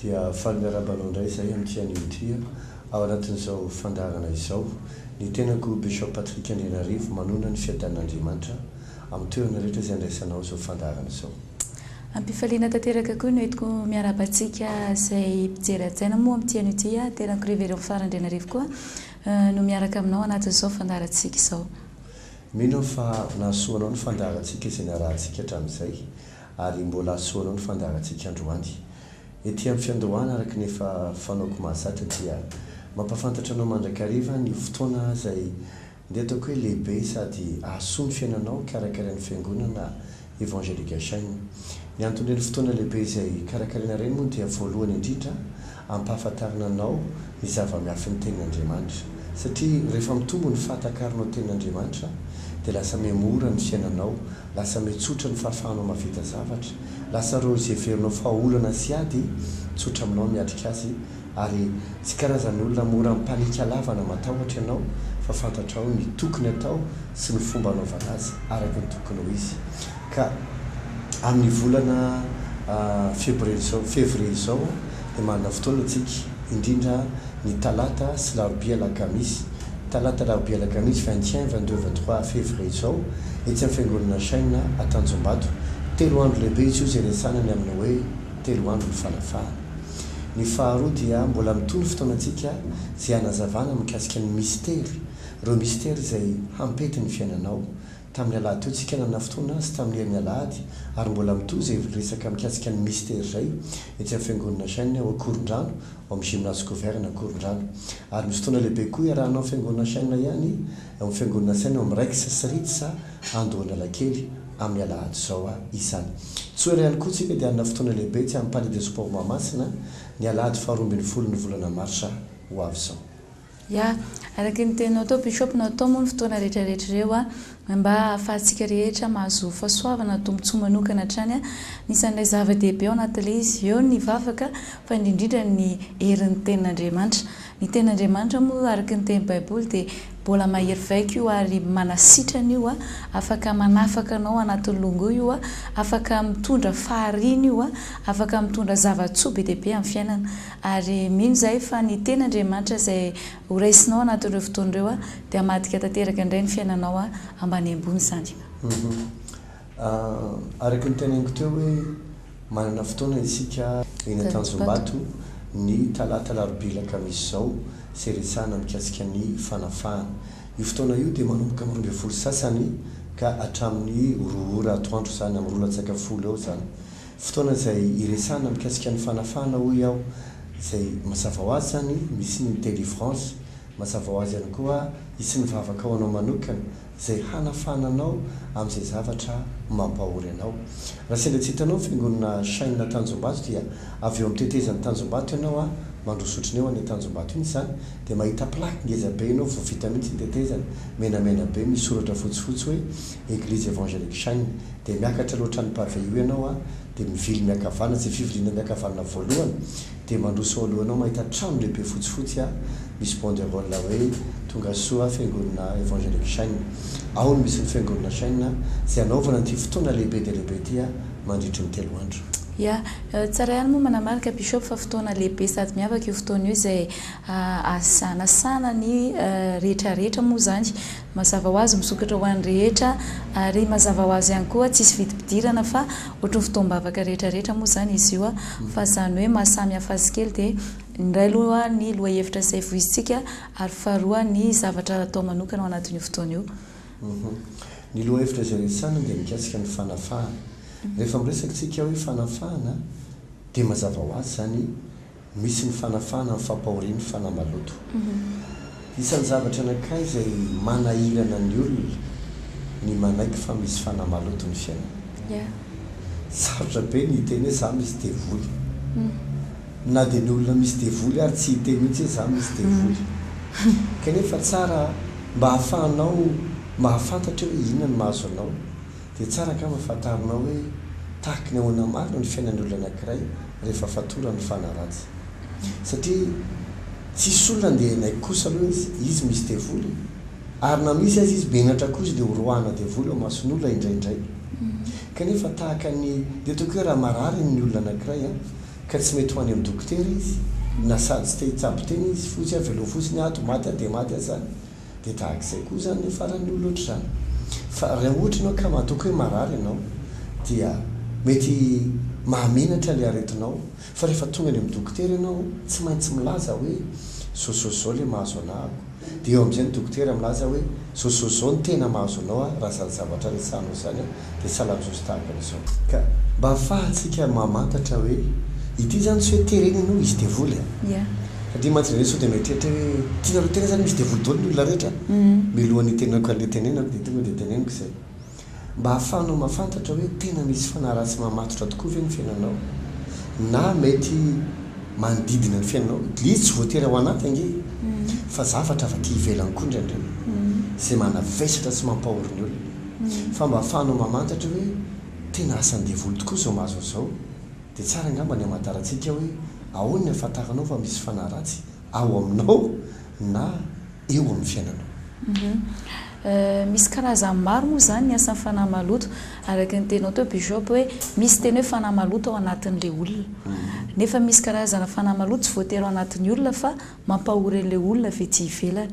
Dia faly miarahaba anao indray izahay amin'ity anio ity an! Ao anatin'izao fandaharana izao, ny tenako Bishop Patrick Andrianarivo manonona ny fiadanan'Andriamanitra amin'ny toerana rehetra izay andraisanao izao fandaharana izao. Ampifaliana tanteraka koa no entiko miarahaba antsika izay mpijery hajaina moa amin'ity anio ity. Tena ko révérend Fara Andrianarivo koa no miaraka aminao anatin'izao fandaharantsika izao. Mino aho fa nahasoa anao ny fandaharantsika izay narahantsika hatramin'izay ary mbola hahasoa anao ny fandaharantsika androany. Ety amin'ny fiandohana araka ny efa fanaoko mahazatra dia mampahafantatra anao mandrakariva ny fotoana izay Ndeha ataoko hoe lehibe sady ahasoa ny fiainanao karakarain'ny Fiangonana Evangelica Shine. Ny anton'ireny fotoana lehibe izay karakaraina ireny moa dia voalohany indrindra ampahafantarina anao ny zava-miafin'ny Tenin'Andriamanitra. Satria rehefa mitombo ny fahatakaranao Tenin'Andriamanitra dia lasa mihamora ny fiainanao, lasa mihatsotra ny fahafahanao mahavita zavatra, lasa ireo izay heverinao fa olana sy ady tsotra aminao ny miatrika azy Ary tsy karazan'olona mora ampaniaka lava na matahotra ianao fa fantatrao ny tokony atao sy ny fomba anaovana azy araka ny tokony ho izy. Ka amin'ny volana febrie izao, février, izao dia manana fotoana isika, indrindra ny talata sy larobia alakamisy, talata alarobia alakamisy vingt et un, vingt deux, vingt trois février izao etsy amin'ny fiangonana Shine Antanjombato. Telo andro lehibe izy io izay niasana ny amin'ny hoe telo andron'ny fanafahana. Ny faharoa dia mbola mitohy ny fotoanantsika izay hanazavana mikasika ny mistery, ireo mistery izay hampety ny fiainanao. Tamin'ny alahaditoy tsika nanana fotoana sy tamin'ny herin'ny alahady ary mbola mitohy izay resaka mikasika ny mistery izay etsy amin'ny fiangonana Shine ao Ankorondrano ao amin'ny Gymnase Couvert-ny Ankorondrano. Ary misy fotoana lehibe koa iarahanao amin'ny fiangonana Shine ihany ao amin'ny fiangonana Shine ao amin'ny Rex sy Ritz Andohan'Alakely, amin'ny alahady izao izany. Tsy ho ela ihany koa isika dia hanana fotoana lehibe tsy amin'ny Palais des Sports Mahamasina, ny alahady faharoa ambin'ny folon'ny volana marsa ho avy izao. Ya, araka ny teninao tao Bishop, natao moa ny fotoana rehetra rehetra ireo mba hahafahantsika rehetra mahazo fahasoavana, tombontsoa manokana hatrany. Anisan'ilay zava-dehibe ao anatin'ilay izy, eo ny vavaka fa indrindra indrindra ny herin'ny tenin'Andriamanitra. Ny tenin'Andriamanitra moa araka ny tenin'ny Baiboly dia. Mbola mahery vaika io ary manasitrana io a! Afaka manafaka anao anatin'ny longo io a! Afaka mitondra fahariana io a! Afaka mitondra zava-tsoa be dia be amin'ny fiainana. Ary mino izahay fa ny Tenin'Andriamanitra izay horaisinao anatin'ireo fotoana ireo a, dia hamadika tanteraka indray ny fiainanao a, ambany ambony izany. Araky ny teneniko teo hoe. Manana fotoana isika eny Antanjombato ny talata alarobia alakamisy izao sy iresahana mikasika ny fanafahana. Io fotoana io dia manomboka amin'ny roa ambin'ny folo sasany ka hatramin'ny roa ora atoandro izany, amin'ny roa latsaka folo eo izany. Fotoana izay iresahana mikasika ny fanafahana hoy aho izay mazava ho azy izany misy ny delivrance, mazava ho azy ihany koa hisy ny vavaka ho anao manokana. izay hanafahana anao amin'izay zavatra mampahory anao. Raha sendra tsy hitanao ny fiangonana Shine Tanjombato dia avy eo amin'ny tetezan'ny Tanjombato ianao a, mandroso otriny eo anie Tanjombato iny izany dia mahita plaque ngeza be ianao vao vita mihitsy ny tetezana, menamena be misy soratra fotsifotsy hoe Eglise Evangelique Shine dia miakatra aloha hatrany pavé io ianao a dia mivily miakavana, izay fiviliana miakavanana voalohany Dia mandroso ao alohanao mahita trano lehibe fotsifotsy a, misy banderole hoe tonga soa fiangonana Evangelique Chêne. Ao no misy ny fiangonana Chêne izay hanaovana an'ity fotoana lehibe dia lehibe ity mandritry ny telo andro. Ya, tsara ihany moa manamarika Bishop fa fotoana lehibe sady miavaka io fotoana io izay ahasanasana ny rehetrarehetra moa izany. Mazava ho azy misokatra ho an'ny rehetra ary mazava ho azy ihany koa tsisy vidim-pidirana fa ohatry ny fotoam-bavaka rehetra rehetra moa izany izy io fa izany hoe maha samy hafa azy kely dia ny iray aloha ny lohahevitra izay voizintsika ary faharoa ny zavatra atao manokana ao anatin'io fotoana io. Ny lohahevitra izay resahinao dia mikasika ny fanafahana. Rehefa miresaka isika hoe fanafahana dia mazava ho azy izany Misy ny fanafahana ny fampahorian'ny fanahy maloto. Isan'ny zavatra anankiray izay manahirana ny olona ny manaiky fa misy fanahy maloto ny fiainana. Sarotra be ny hiteny hoe za misy devoly. Na dia ny olona misy devoly ary tsy hiteny mihitsy hoe za misy devoly. Kanefa tsara mba ahafahanao mahafantatra hoe inona no mahazo anao. Dia tsara angamba fantarinao hoe tahaka ny ahoana marina ny fiainan'ny olona anankiray rehefa fatorany fa hanaratsy. Satria tsisy olona andeha hanaiky kosa aloha izy, izy misy devoly e! Ary na misy aza izy menatra koa izy dia ho roahana devoly ao mason'olona indraindray. Kanefa tahaka ny, dia ataoko hoe raha marary ny olona anankiray an, ka tsy mety ho any amin'ny dokotera izy, na sady tsy te hitsabo tena izy, fotsy an, velao fotsiny an, ato maty an, dia maty an, zany. Dia tahaka izay koa izany ilay faran'ny olona ohatr'izany. Fa raha ohatra ianao ka matoky hoe marary ianao dia mety mahamenatra ilay aretinao fa rehefa tonga any amin'ny dokotera ianao tsy maintsy milaza hoe zao zao zao ilay mahazo anahako. Dia eo amin'izay ny dokotera milaza hoe zao zao zao ny tena mahazo anao raha izany zavatra resahanao izany dia tsy hanajoso tahaka an'izao. Ka mba hahafahantsika mamantatra hoe ity izany tsy hoe terena ianao hisy devoly a! Fa dia imaginer hoe sao dia mieritreritra hoe tianareo tena izany misy devoly daholo ny olona rehetra? Mialohan'ny hitenenako an'ilay tenenako dia tonga dia teneniko izay mba hahafahanao mafantatra hoe tena misy fanahy ratsy mamatotra tokoa ve ny fiainanao na mety manodidina ny fiainanao dia tsy voatery ao anaty ange e! Fa zavatra avy aty ivelany koa indraindray izay manavesatra sy mampahory ny olona. fa mba afahanao mamantatra hoe tena asan'ny devoly tokoa izao mahazo an'izao, dia tsara angamba ny hamantarantsika hoe ahoana ny hahafantaranao fa misy fanahy ratsy ao aminao na eo amin'ny fiainanao. Misy karazany maro moa izany ny asan'ny fanahy maloto, araka ny teninao teo Bishop hoe misy teny hoe fanahy maloto ao anatin'ilay olona, nefa misy karazana fanahy maloto tsy voatery ao anatin'ny olona fa Mampahory an'ilay olona avy ety ivelany.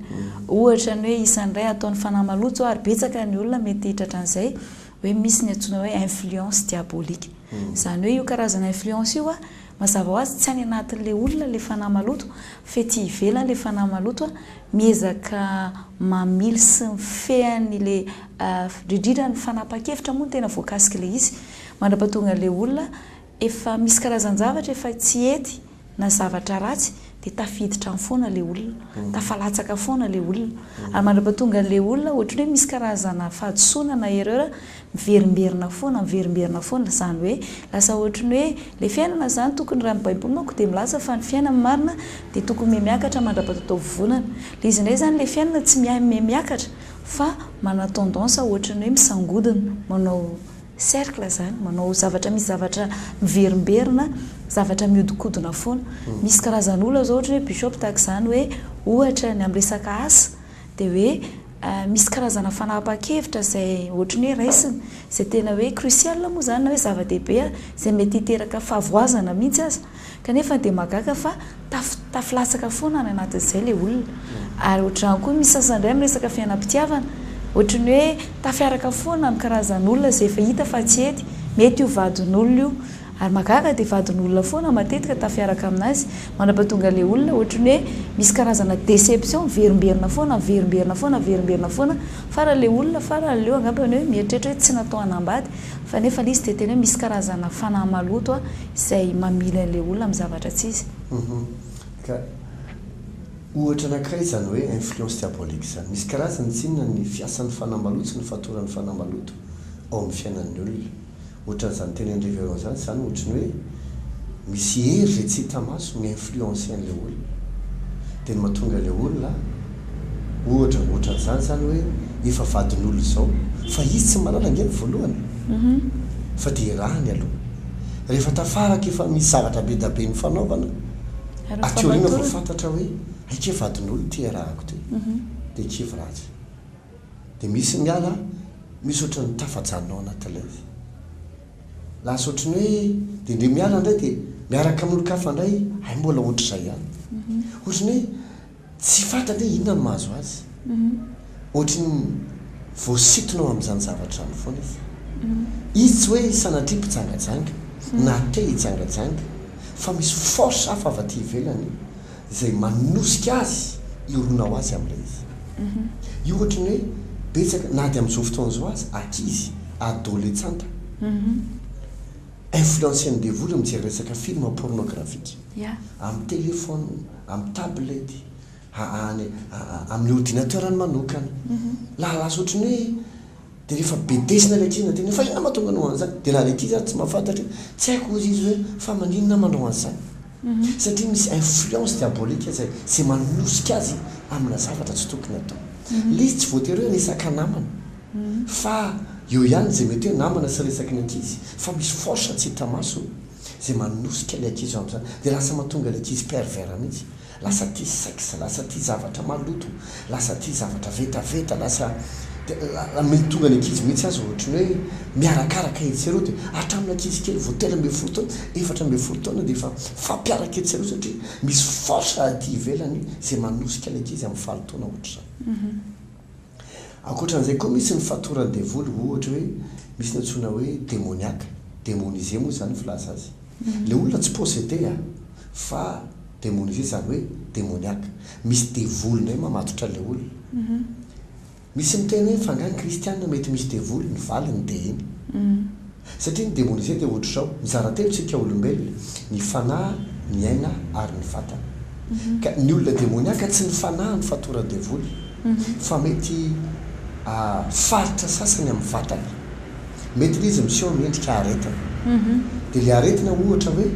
Ohatra ny hoe isan'ny iray ataon'ny fanahy maloto izao ary betsaka ny olona mety hitratra an'izay hoe misy ny antsoina hoe influence diabolique. Izany hoe io karazana influence io mazava ho azy tsy any anatin'ilay olona ilay fanahy maloto fa ety ivelany ilay fanahy maloto miezaka mamily sy mifehy an'ilay indrindra ny fanapahan-kevitra moa no tena voakasik'ilay izy. Mandrapatonga ilay olona Efa misy karazan-javatra efa tsy hety na zavatra ratsy dia tafiditra any foana ilay olona, tafalatsaka foana ilay olona. Ary mandrapatonga an'ilay olona ohatran'ny hoe misy karazana fahadisoana na erreur miverimberina foana, miverimberina foana. Izany hoe lasa ohatran'ny hoe ilay fiainana izany tokony raha ny Baiboly manko dia milaza fa ny fiainana marina dia tokony mihamiakatra mandra-pataotaovonana. Ilay izy indray izany ilay fiainana tsy mihamiakatra fa mana-tendance ohatran'ny hoe misangodina manao. Cercle zany, manao zavatra misy zavatra miverimberina, zavatra mihodinkodina foana. Misy karazana olona zao ohatra hoe Bishop tahaka izany hoe ohatra ny amin'ny resaka asa dia hoe misy karazana fanapahan-kevitra izay ohatra ny hoe raisiny izay tena hoe crucial moa izany na hoe zava-dehibe izay mety hiteraka fahavoazana mihitsy aza. Kanefa dia mahagaga fa tafotafo latsaka foana any anatin'izay ilay olona. Ary ohatr'izany koa misy sasany indray miresaka fiainam-pitiavana, ohatry ny hoe tafiaraka foana amin'ny karazan'olona izay efa hita fa tsy hety, mety io vadin'olona io. Ary mahagaga dia vadin'olona foana matetika tafiaraka amin'azy, manapatonga ilay olona ohatry ny hoe misy karazana déception, miverimberina foana, miverimberina foana, miverimberina foana, farany ilay olona, farany leo angambany hoe mieritreritra hoe tsy natao hanambady, fa nefa ilay izy dia tena hoe misy karazana fanahy maloto. izay mamily an'ilay olona amin'ny zavatra tsy izy. Uhum. Ka ohatra anankiray izany hoe influence diabolique izany. Misy karazany tsinona ny fiasan'ny fanahy maloto sy ny fatoran'ny fanahy maloto ao amin'ny fiainan'ny olona. Ohatran'izany tenenin'i Révérend izany, izany ohatry ny hoe misy hery izay tsy hita maso mi-influencer an'ilay olona. Dia ny mahatonga ilay olona, ohatra, ohatran'izany izany hoe efa vadin'olona izao, fa izy tsy mahalala ange ny voalohany e! Fa dia irahany aloha. rehefa tafara ka efa misy zavatra be da be nifanaovana, aty aoriana vao fantatra hoe hay kay vadin'olo ty iarahako ty, dia kivy ratsy. Dia misy ny ala, misy ohatran'ny tafajanona ao anaty live. Lasa ohatran'ny hoe dia ndre miala indray dia miaraka amin'olon-kafa indray hay mbola ohatr'izay ihany. Ohatran'ny hoe. Tsy fantany hoe inona no mahazo azy. Ohatry ny voasintona ao amin'izany zavatra izany foana izy. Izy tsy hoe sanatria mpijangajanga, na te hijangajanga, fa misy force hafa avy aty ivelany izay manosika azy hirona ho azy amin'ilay izy. Io ohatry ny hoe betsaka, na dia amin'izao fotoana izao aza, ankizy, adoletsanta. Influencen'ny devoly mijery resaka film pornographique amin'ny telephone, amin'ny tablette, any amin'ny ordinateur-ny manokana. Lahalasa ohatry ny hoe dia rehefa bedesina ilay ankizy na tena fa inona mahatonga anao manao an'izany? Dia na ilay ankizy aza tsy mahafantatra hoe tsy haiko hozy izy hoe fa maninona aho manao an'izany? Satria misy influence diabolique izay izay manosika azy amina zavatra tsy tokony atao. Ilay izy tsy voatery hoe resaka namana. fa eo ihany izay mety hoe namana sy resaky ny ankizy fa misy force tsy hita maso izay manosika ilay ankizy ho amin'izany dia lasa mahatonga ilay ankizy pervers mihitsy lasa tia sex lasa tia zavatra maloto lasa tia zavatra vetaveta lasa dia la mety tonga ny ankizy mihitsy aza ohatry ny hoe miarakaraka etsy sy eroa dia hatramin'ny ankizy kely vao telo ambin'ny folo taona efatra ambin'ny folo taona dia efa mifampiaraka etsy sy eroa satria misy force aty ivelany izay manosika ilay ankizy amin'ny falo taona ohatry izany. Ankoatran'izay koa misy ny fatoran'ny devoly ohatra hoe misy ny antsoina hoe demoniaque, demonisé moa izany ny filaza azy. Ilay olona tsy possédé a! fa demonisé izany hoe demoniaque. Misy devoly indray mamatotra an'ilay olona. Misy miteny hoe fa angaha ny kristiana mety misy devoly? Ny valiny dia iny. Satria ny demonia izay dia ohatr'izao, mizara telo isika olombelona, ny fanahy, ny aina ary ny vatana. Ka ny olona demoniaka tsy ny fanahy no fatoran'ny devoly fa mety faritra sasany amin'ny vatany. Mety ilay izy miseho amin'ny endrika aretina. Dia ilay aretina ohatra hoe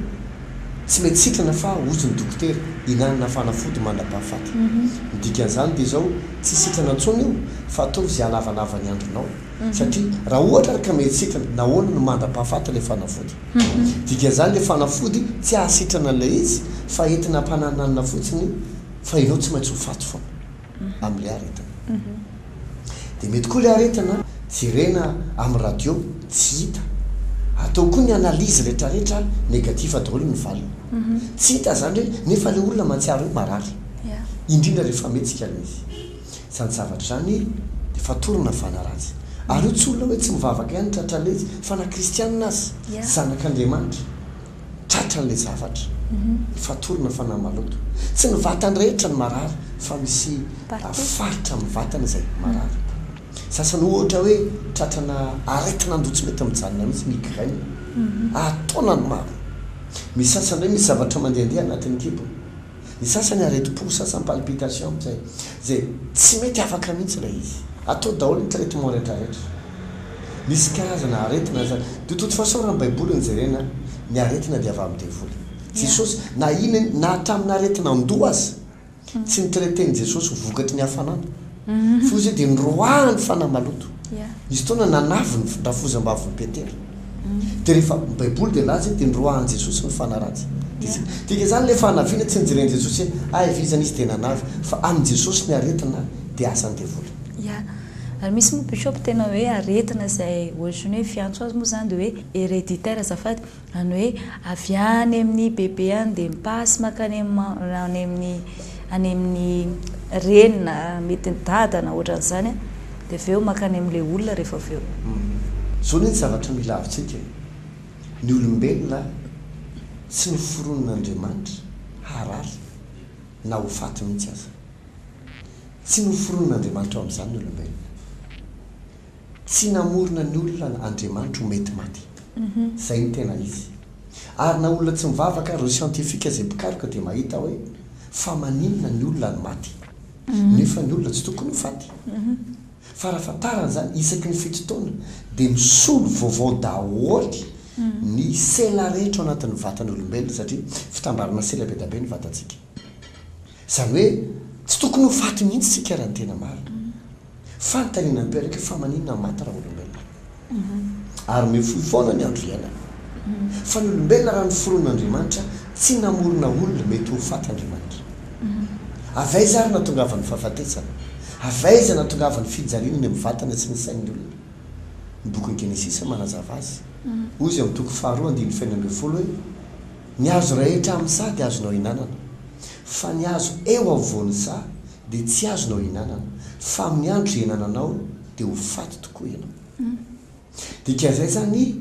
tsy mety sitrana fa ozon'ny dokotera, hinanana fanafody mandra-pahafaty. Ny dikan'izany dia izao, tsy sitrana intsony io fa ataovy izay halavanava ny andronao. Satria raha ohatra ary ka mihetsitina, nahoana no mandra-pahafaty ilay fanafody? Dikan'izany ilay fanafody tsy hahasitrana an'ilay izy fa entina hampanananana fotsiny fa ianao tsy maintsy ho faty foana amin'ilay aretina. Dia mety koa ilay aretina jerena amin'ny radio tsy hita. Atao koa ny analyse rehetrarehetra negatif daholo ny valiny. Tsy hita izany hoe nefa ilay olona mahatsiaro hoe marary. Indrindra rehefa mihetsika ilay izy. Izany zavatra izany dia fatorana ny fanaratsy. Ary io tsy olona hoe tsy mivavaka ihany tratra an'ilay izy fa na kristianina aza, zanak'Andriamanitra, tratra an'ilay zavatra. Ny fatorana fanahy maloto. Tsy ny vatany rehetra no marary fa misy faritra amin'ny vatany izay marary. Sasany ohatra hoe tratrana aretin'andoha tsy mety mijanona mihitsy, migraine, ary taonany maro. Misy sasany indray misy zavatra mandehandeha anatin'ny kibony. Ny sasany aretim-po, ny sasany palpitation izay izay tsy mety afaka mihitsy ilay izy. Atao daholo ny traitement rehetra rehetra. Misy karazana aretina izany. De toute façon raha ny baiboly no jerena ny aretina dia avy amin'ny devoly. Jesosy na inona na hatramin'ny aretin'andoha aza tsy ni-traiter-n'i Jesosy vokatry ny hafanana. Foza io dia niroahany fanahy maloto. Nisy fotoana nanavy ny rafozam-bavin'i Petera. Dia rehefa ny Baiboly dia nilaza hoe dia niroahan'i Jesosy ny fanahy ratsy. Dia tsy midika izany ilay fanaviana, tsy nojeren'i Jesosy hoe hay vizana izy dia nanavy, fa amin'i Jesosy ny aretina dia asan'ny devoly. Ia. Ary misy moa bishop tena hoe aretina izay ohatry ny hoe fiantso azy moa izany dia hoe hereditaire azafady. Zany hoe avy any amin'ny bebe any dia mi-passe makany any amin'ny any amin'ny reny na mety ny dada na ohatran'izany an, dia avy eo makany amin'ilay olona rehefa avy eo. Izao anie ny zavatra mila avontsika e! Ny olombelona tsy noforonin'Andriamanitra harary na ho faty mihitsy aza. Tsy noforonin'Andriamanitra ho amin'izany ny olombelona. Tsy namorona ny olona Andriamanitra ho mety maty. Izay no tena izy. Ary na olona tsy mivavaka ary ireo siantifika izay mpikaroka dia mahita hoe fa maninona ny olona no maty? Nefa ny olona tsy tokony ho faty. Fa raha fantarana izany, isaky ny fito taona dia misolo vaovao daholo ny sela rehetra ao anatin'ny vatan'olombelona satria fitambarana sela be dia be ny vatantsika. Izany hoe tsy tokony ho faty mihitsy isika raha ny tena marina. Fanontaniana mipelaka, fa maninona no maty raha olombelona no maty? Ary mifoha foana ny andro iainana. Fa ny olombelona raha noforon'Andriamanitra, tsy namorona olona mety ho faty Andriamanitra. Avy aiza ary no nahatongavan'ny fahafatesana? Avy aiza no nahatongavan'ny fijaliana eny amin'ny vatana sy ny sain'ny olona? Ny bokin'ny Genesisy no manazava azy. Hoy izy amin'ny toko faharoa andininy fahenina ambin'ny folo hoe, Ny hazo rehetra amin'ny saha dia azonao ihinanana, fa ny hazo eo afovoan'ny saha dia tsy azonao ihinanana fa miandry ihinananao dia ho faty tokoa ianao. Dika izay izany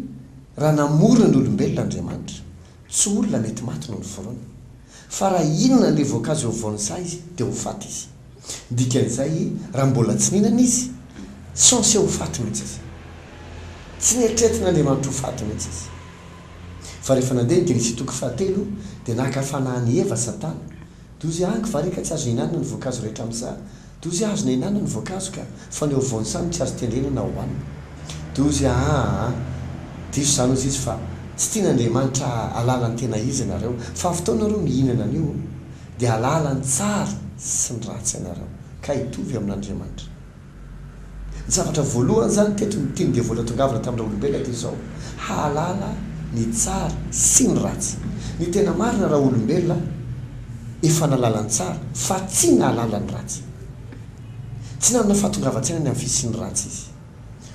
raha namorona ny olombelona Andriamanitra, tsy olona mety maty no noforony, fa raha hihinana an'ilay voankazo eo afovoan'ny saha izy dia ho faty izy. Dikan'izay raha mbola tsy nihinana izy, censé ho faty mihitsy izy. Tsy neritreretin'Andriamanitra ho faty mihitsy izy. Fa rehefa nandeha ny Genesy toko fahatelo dia naka fanahy an'i Eva Satana, Dozy angy va re ka tsy azo ihinanana ny voankazo rehetra amin'za? Dozy azona ihinanana ny voankazo ka, fa ny ao voany sa no tsy azo tendrena na hohanina? Dozy aa! Diso izany hozy izy fa tsy tian'Andriamanitra hahalala ny tena izy ianareo, fa avy teo nareo mihinana an'io dia hahalala ny tsara sy ny ratsy ianareo, ka hitovy amin'Andriamanitra. Ny zavatra voalohany izany teto no tian'ny devoly hatongavana tamin'ny raolombelona dia izao, hahalala ny tsara sy ny ratsy. Ny tena marina raolombelona efa nahalala ny tsara fa tsy nahalala ny ratsy. Tsy nanana fahatongavan-tsaina ny amin'ny fisian'ny ratsy izy.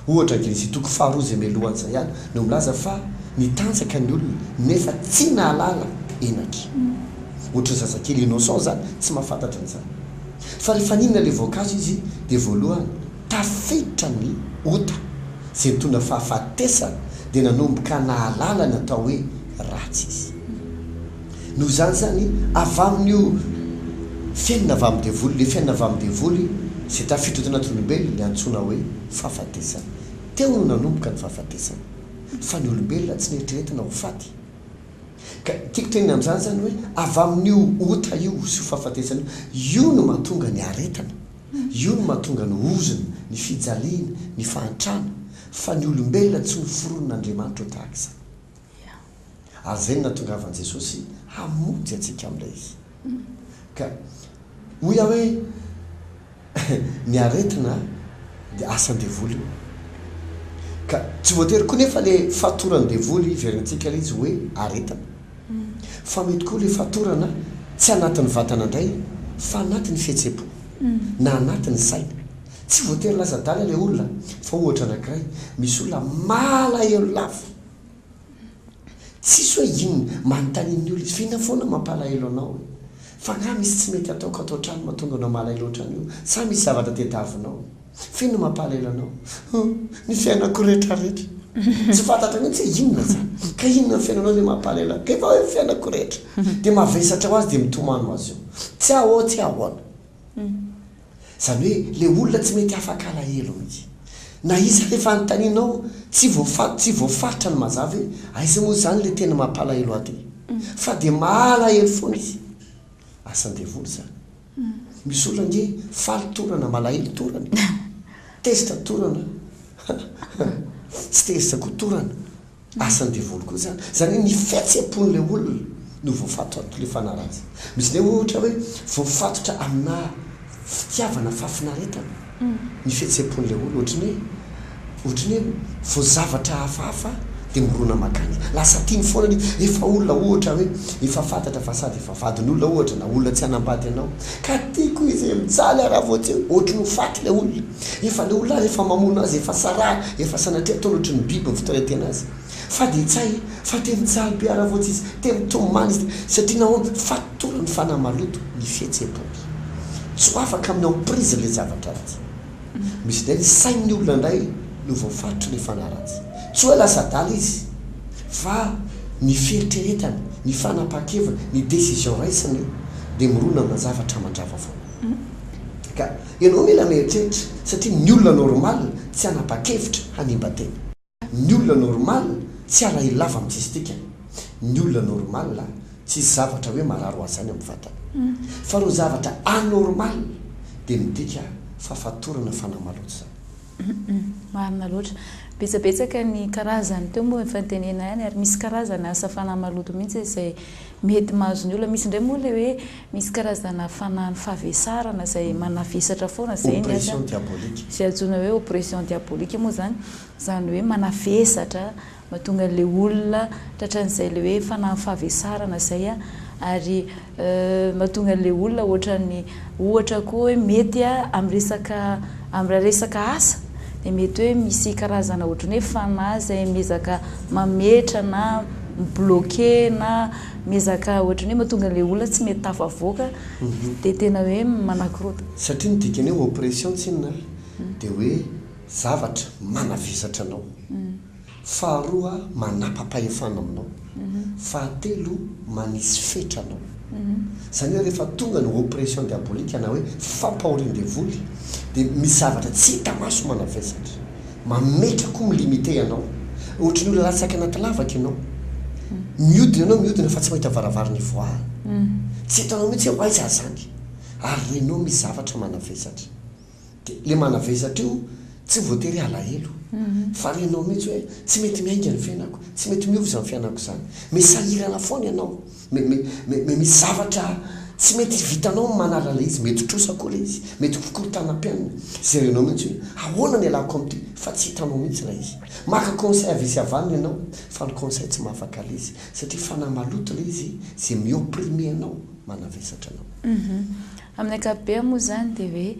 Ohatra Genesy toko faharoa izay mialohan'izay ihany no milaza fa nitanjaka ny olona nefa tsy nahalala henaky. Ohatry ny zazakely innocent izany tsy mahafantatra an'izany. Fa ny faninona le voankazo izy dia voalohany tafiditra ny ota izay nitondra fahafatesana dia nanomboka nahalala ny atao hoe ratsy izy. Noho izany izany avy amin'io fiainana avy amin'ny devoly le fiainana avy amin'ny devoly izay tafiditra tao anaty olombelona antsoina hoe fahafatesana. Teo no nanomboka ny fahafatesana fa ny olombelona tsy neritreretina ho faty. Ka tiako tenenina amin'izany izany hoe avy amin'io ota io sy io fahafatesana io, io no mahatonga ny aretana, io no mahatonga ny ozona, ny fijaliana, ny fahantrana, fa ny olombelona tsy noforonin'Andriamanitra ho tahaka izany. Ary izay no nahatongavan'i Jesosy hamonjy antsika amin'ilay izy. Ka hoy aho hoe ny aretina dia asan'ny devoly io. Ka tsy voatery koa nefa ilay fatoran'ny devoly hiverintsika ilay izy hoe aretina. Fa mety koa ilay fatorana tsy anatin'ny vatana indray fa anatin'ny fihetsem-po na anatin'ny saina. Tsy voatery lasa adala ilay olona fa ohatra anankiray, misy olona malahelo lava. Tsisy hoe inona, manontanian' ny olona, f'inona foana no mampalahelo anao e? F'angaha misy tsy mety ataoko ato an-trano mahatonga anao malahelo ohatran' io? Sa misy zavatra tediavinao? F'inona no mampalahelo anao? Hum, ny fiainako rehetrarehetra. Tsy fantatro mihitsy hoe inona izany. Ka inona ny fiainanao izay mampalahelo ahy? Dia vao hoe ny fiainako rehetra. Dia mavesatra ho azy dia mitomany ho azy eo. Tsy ahoa, tsy ahoana. Izany hoe ilay olona tsy mety afaka alahelo mihitsy. Na iza ilay fanontanianao, tsy voafa, tsy voafaritra ny mazava hoe aiza moa izany ilay tena mampalahelo aty. Fa dia mahalahelo foana izy. Asan'ny devoly izany. Misy olona ange faly torana, malahelo torana. Tezitra torana. Tsy tezitra koa torana. Asan'ny devoly koa izany. Izany hoe ny fihetseham-pon'ilay olona no voafatotra amin'ity lefana ratsy. Misy indray ohatra hoe voafatotra aminà fitiavana fahafinaretana ny fihetseham-pon'ilay olona, ohatry ny hoe, ohatry ny hoe vao zavatra hafahafa dia mirona mankany. Lasa tiany foana ny izy. Efa olona ohatra hoe efa fantatra fa sady efa vadin'olona ohatra na olona tsy hanambady anao ka tiako izy e, mijaly aho raha vao tsy hoe ohatry ny ho faty ilay olona. Efa le olona refa mamono azy efa sara efa sanatria ataony ohatry ny biby ny fitoretena azy fa de tsay fa te mijaly be ara votsy izy te mitomany izy satria nahoana fatorany fanahy maloto ny fihetsepony tsy afaka amin'ny emprise le zavatra ratsy misy ndray ny sain'ny olona ndray no voafaritry le fanahy ratsy tsy oe lasa adala izy fa ny fieritreretany ny fanapahan-keviny ny decision raisiny de mirona amina zavatra mandrava foana ka Ianao mila mieritreritra satria ny olona normal tsy hanapa-kevitra hanimba tena. Ny olona normal tsy halaelo lava amin'ny tsisy dikany. Ny olona normal tsisy zavatra hoe marary ho azy izany amin'ny vatany. Fa ireo zavatra anormal dia midika fahafatorana fanahy maloto izany. Marina loatra. Betsabetsaka ny karazany teo moa efa notenenina ihany ary misy karazana asa fanahy maloto mihitsy izay mety mahazo ny olona. Misy indray moa ilay hoe misy karazana fanahin'ny fahavesarana izay manavesatra foana. Izay ny asany. Oppression diabolique. Izay antsoina hoe oppression diabolique moa izany. Izany hoe manavesatra. Mahatonga an'ilay olona tratran'izay ilay hoe fanahin'ny fahavesarana izay an, ary mahatonga an'ilay olona ohatran'ny ohatra koa hoe mety amin'ny resaka amin'ny raha resaka asa dia mety hoe misy karazana ohatran'ny hoe fanahy izay miezaka mametra na mi-bloquer na miezaka ohatran'ny hoe mahatonga an'ilay olona tsy mety tafavoaka dia tena hoe manakorota. Satria ny dikan'ny hoe oppression tsinona dia hoe zavatra manavesatra anao. Faharoa, manapa-pahefana aminao. Fahatelo, manisy fetra anao. Izany hoe rehefa tonga ny oppression diabolique na hoe fampahorian-devoly dia misy zavatra tsy hita maso manavesatra, mametra koa mi-limiter anao. Ohatry ny hoe latsaka anaty lavaka ianao. Mihodina ianao mihodina fa tsy mahita varavarana ivoahana. Tsy hitanao mihitsy hoe aiza zany. Ary renao misy zavatra manavesatra. dia ilay manavesatra io tsy voatery halahelo fa renao mihitsy hoe tsy mety miainga ny fiainako, tsy mety miova izany fiainako izany. Mety sahirana foana ianao, me, me, me, me, misy zavatra tsy mety vitanao ny manala ilay izy, mety trosa koa ilay izy, mety hofokorontana am-piainana, izay renao mihitsy hoe ahoana no ialako amin'ity fa tsy hitanao mihitsy ilay izy. Maka conseil avia sy avany ianao fa ny conseil tsy mahafaka ilay izy satria fanahy maloto ilay izy izay mi-opprimer anao, manavesatra anao. Amin'ny ankapobeny moa izany dia hoe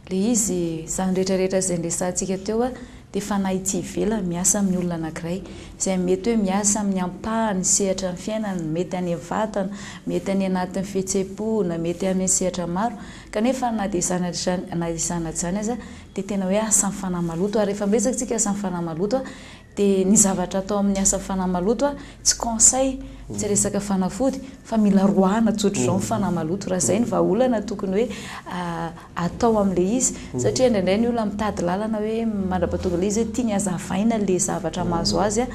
ilay izy, izany rehetra rehetra izay niresahantsika teo dia fanahy tsy ivelany miasa amin'ny olona anankiray, izay mety hoe miasa amin'ny ampahany sehatra ny fiainany, mety any vatana, mety any anatin'ny fihetsem-po na mety amin'ny sehatra maro, kanefa na dia izany ary izany na izany na izany aza dia tena hoe asan'ny fanahy maloto, ary rehefa miresaka isika asan'ny fanahy maloto Dia ny zavatra atao amin'ny asa fanahy maloto a, tsy conseil, tsy resaka fanafody, fa mila roahana tsotra izao ny fanahy maloto, raha izay ny vahaolana tokony hoe atao amin'ilay izy, satria indraindray ny olona mitady lalana hoe mandrapatonga ilay izy hoe tiany hazavaina ilay zavatra mahazo azy a,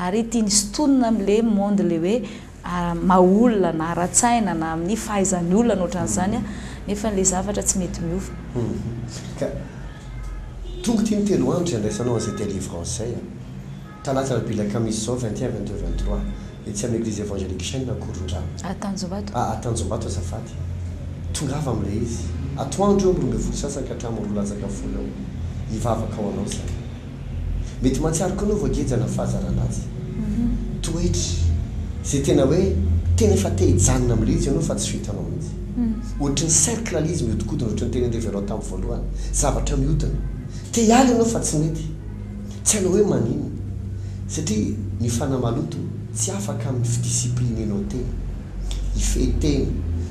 ary tiany sintonina amin'ilay monde ilay hoe. maha-olona na ara-tsaina na amin'ny fahaizan'ny olona na ohatran'izany nefa ilay zavatra tsy mety miova. Ka tonga ity ny telo andro izay andraisanao an'izay delivrance izay a! Talata alarobia alakamisy izao vingt et un, vingt deux, vingt trois etsy amin'ny eglise evangelique chaine Ankorondrano. A Tanjombato. A Tanjombato azafady. Tongava amin'ilay izy. Atoandro eo amin'ny roa ambin'ny folo sasany ka hatramin'ny roa latsaka folo eo. Hivavaka ho anao izahay. Mety mahatsiaro koa anao voageja na fahazarana azy. Toetra izay tena hoe tena efa te hijanona amin'ilay izy ianao fa tsy vitanao mihitsy. Ohatry ny cercle ilay izy mihodikodina ohatry ny teny andrevenao tamin'ny voalohany. Zavatra mihodina. Te hiala ianao fa tsy mety. Tsy hainao hoe maninona. Satria ny fanahy maloto tsy afaka amin'ny fi-disciplinenao tena. Hifehy tena,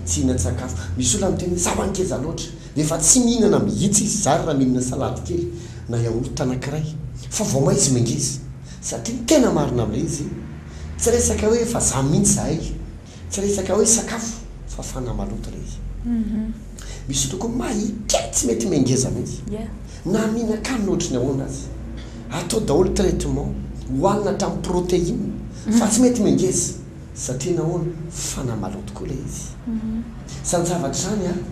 tsy hihinan-tsakafo. Misy olona miteny hoe za ho'a ngeza loatra. Dia efa tsy mihinana mihitsy izy zary raha mihinana salady kely na yaourt anankiray fa vao may izy mangeza. Satria ny tena marina amin'ilay izy, tsy resaka hoe efa zany mihitsy zahay, tsy resaka hoe sakafo fa fanahy maloto ilay izy. Misy olona koa may kely tsy mety mangeza mihitsy na mihinan-kanina ohatry ny ahoana aza. Atao daholo traitement, hohanina hatramin'ny protéine fa tsy mety mangeza. Satria nahoana? Fa namalao tokoa ilay izy. Sa ny zavatra izany ary?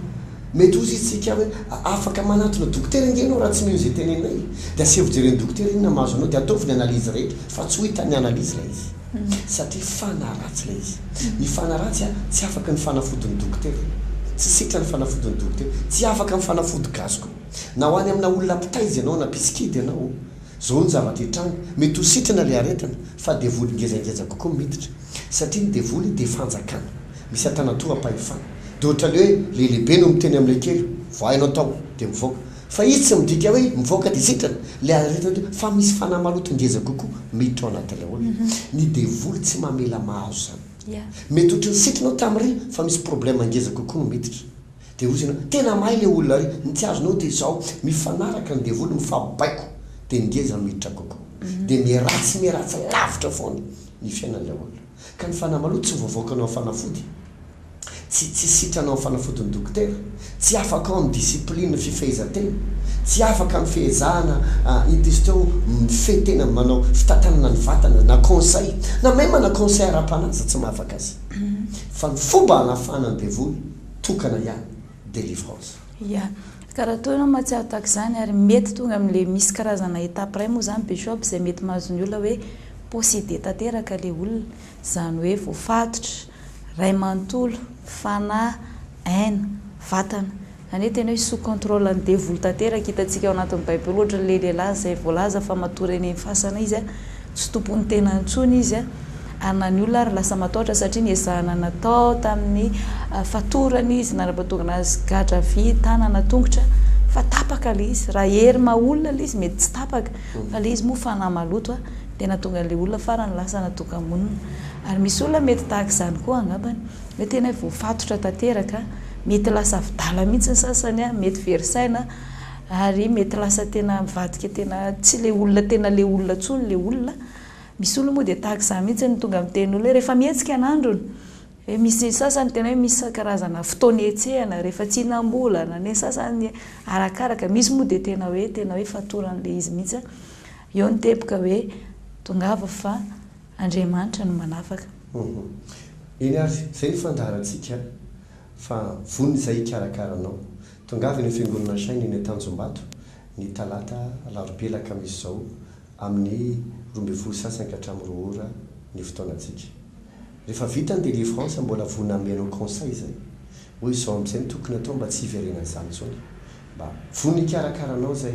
Mety hozy isika hoe, Afaka manatona dokotera ange ianao raha tsy mino izay teneninay e! Dia aseho fijery ny dokotera inona mahazo anao dia ataovy ny analyse rehetra fa tsy ho hitan'ny analyse ilay izy. Satria fanahy ratsy ilay izy. Ny fanahy ratsy tsy afaka ny fanafody ny dokotera. Tsy setra ny fanafody ny dokotera. Tsy afaka ny fanafody gasy koa. Na ho any amina olona mpitaiza ianao na mpisikidy ianao Zao ny zavatra hitranga, mety ho sitrana ilay aretina fa devoly ngezangeza kokoa miditra, satria ny devoly dia fanjakana, misy antanatoham-pahefana, dia ohatran'ny hoe ilay lehibe no miteny amin'ilay kely hoe vao hainao tao dia mivoaka, fa izy tsy midika hoe mivoaka dia sitrana ilay aretina teo fa misy fanahy maloto ngeza kokoa miditra ao anatin'ilay olona, ny devoly tsy mamela mahazo izany, mety ohatran'ny sitrana ao tamin'ireny fa misy problème ngeza kokoa no miditra. Dia hozy ianao, tena mahay ilay olona ry, ny tsy azonao dia izao, mifanaraka ny devoly, mifabaiko, dia ny ngeza miditra kokoa. Dia miharatsy miharatsy lavitra foana ny fiainan'ilay olona. Ka ny fanahy maloto tsy voavaokanao amin'ny fanafody, tsy tsy sitranao amin'ny fanafodin'ny dokotera, tsy afaka ao amin'ny discipline fifehezan-tena, tsy afaka amin'ny fehezahana intisto eo mifehy tena manao fitantanana ny vatana na conseil, na même na conseil ara-panahy aza tsy mahafaka azy. Fa ny fomba hanafahana ny devoly. tokana ihany délivrance. Ya. Ka raha toa ianao mahatsiaro tahaka izany ary mety tonga amin'ilay misy karazana étape iray moa izany bishop izay mety mahazo ny olona hoe possédé tanteraka ilay olona, izany hoe voafatotra, ray manontolo, fanahy, aina, vatana. Izany hoe tena hoe sous contrôle an'ny devoly tanteraka, hitantsika ao anatin'ny baiboly ohatran'ilay lehilahy izay voalaza fa matory eny fasana izy a, Tsy tompon'ny tenany intsony izy ary na ny olona ary lasa matahotra satria niezahana natao tamin'ny fatorana izy nanapatongana azy gadra vy tanana tongotra fa tapaka ilay izy raha hery maha olona ilay izy mety tsy tapaka fa ilay izy moa fanahy maloto a dia nahatonga an'ilay olona farany lasa natoka-monina ary misy olona mety tahaka izany koa angambany hoe tena hoe voafatotra tanteraka mety lasa avi-dala mihitsy ny sasany a mety very saina Ary mety lasa tena mivadika tena tsy le olona tena le olona tsony le olona, misy olona moa dia tahaka izany mihitsy no tonga miteny olona hoe rehefa mihetsika ny androny, hoe misy sasany tena hoe misy karazana fotoana hihetsehana rehefa tsy hinam-bolana, ny sasany arakaraka, misy moa dia tena hoe tena hoe fatoran'ilay izy mihitsy an, eo ny teboka hoe tongava fa Andriamanitra no manafaka. Eny ary, izay no fandaharantsika fa vonona izay hikarakara anao, Tongava eny Fiangonana Shine eny Antanjombato ny talata, alarobia, alakamisy izao amin'ny roa ambin'ny folo sy sasany ka hatramin'ny roa ora ny fotoanantsika. Rehefa vita ny délivrance mbola vonona hanome anao conseil izay hoe izao amin'izay no tokony atao mba tsy hiverenan'izany intsony. Mba vonona hikarakara anao izay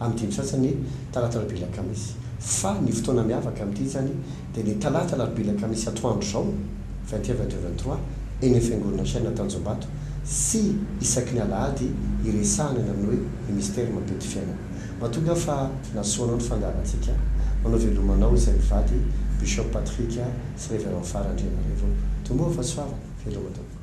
Amin'ny dimy sasany talata alarobia alakamisy. Fa ny fotoana miavaka amin'ity izany dia ny talata alarobia alakamisy atoandro izao, vingt et un, vingt deux, vingt trois, eny amin'ny fiangonana Shina Antanjombato sy isaky ny alahady iresahana ny amin'ny hoe ny mistery mampety fiainana. Mahatonga aho fa nasoanao ny fandaharantsika, manao veloma anao izay mivady, Bishop Patrick sy Reverend Fara Andrianarivony. Tomboa fa soava. Veloma tompoko.